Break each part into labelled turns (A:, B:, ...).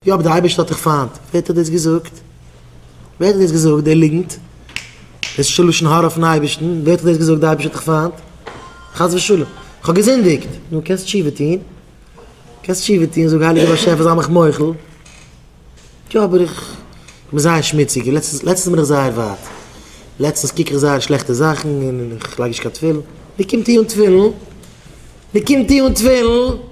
A: יא אבער די אייבערשטער האט דיך פיינט. ווער האט דאס געזאגט? ווער האט דאס געזאגט די ליגנט? דאס איז שוין לשון הרע אויפן אייבערשטן, ווער האט דאס געזאגט די אייבערשטער האט דיך פיינט? חס ושלום. כ'האב געזינדיגט. נו קענסט תשובה טון. קענסט תשובה טון, זאג הייליגער באשעפער זיי מיך מוחל. יא אבער איך בין זייער שמוציג, לעצטנס לעצטנס בין איך זייער ווייט. לעצטנס קוק איך זייער שלעכטע זאכן און איך לייג נישט קיין תפילין. נו קום טו אן תפילין. נו קום טו אן תפילין.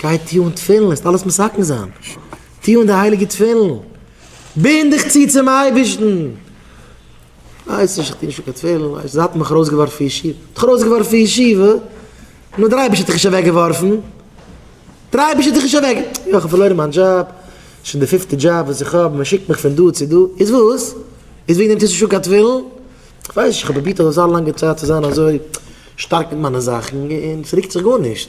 A: גיי טו אן תפילין, וועסט אלעס מסכם זיין. טו אן די הייליגע תפילין. בינד דיך צו צום אייבערשטן. ווייס נישט, איך טו נישט אן קיין תפילין, ווייסט, זיי האבן מיך ארויסגעווארפן פון ישיבה. האט דיך ארויסגעווארפן פון ישיבה? נו, דער אייבערשטער האט דיך נישט אוועקגעווארפן. דער אייבערשטער האט דיך נישט אוועק. יא, איך האב פארלוירן מיין דזשאב. שוין די פיפטע דזשאב וואס איך האב, מען שיקט מיך פון דא צו דא. איז וואס? איז וועגן דעם טוסטו נישט אן קיין תפילין? איך ווייס נישט, איך האב פרובירט אזא לאנגע צייט צו זיין אזוי שטארק מיט מיינע זאכן און ס'רוקט זיך גארנישט.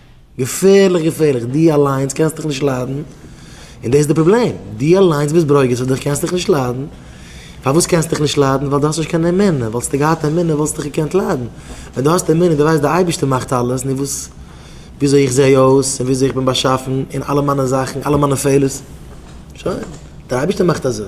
A: געפערליך געפערליך, דו אליינס קענסט דיך נישט ליידן, און דאס איז די פראבלעם, דו אליינס ביסט ברוגז אויף דיך קענסט דיך נישט ליידן, פארוואס קענסט דיך נישט ליידן? ווייל דו האסט נישט קיין אמונה, וואלטסטו געהאט אמונה וואלסטו דיך געקענט ליידן, ווען דו האסט אמונה, דו ווייסט די אייבערשטער מאכט אלעס, נו וואס, וויאזוי איך זע אויס, און וויאזוי איך בין באשאפן, און אלע מיינע זאכן, אלע מיינע פעלערס, שוין, דער אייבערשטער מאכט אזוי.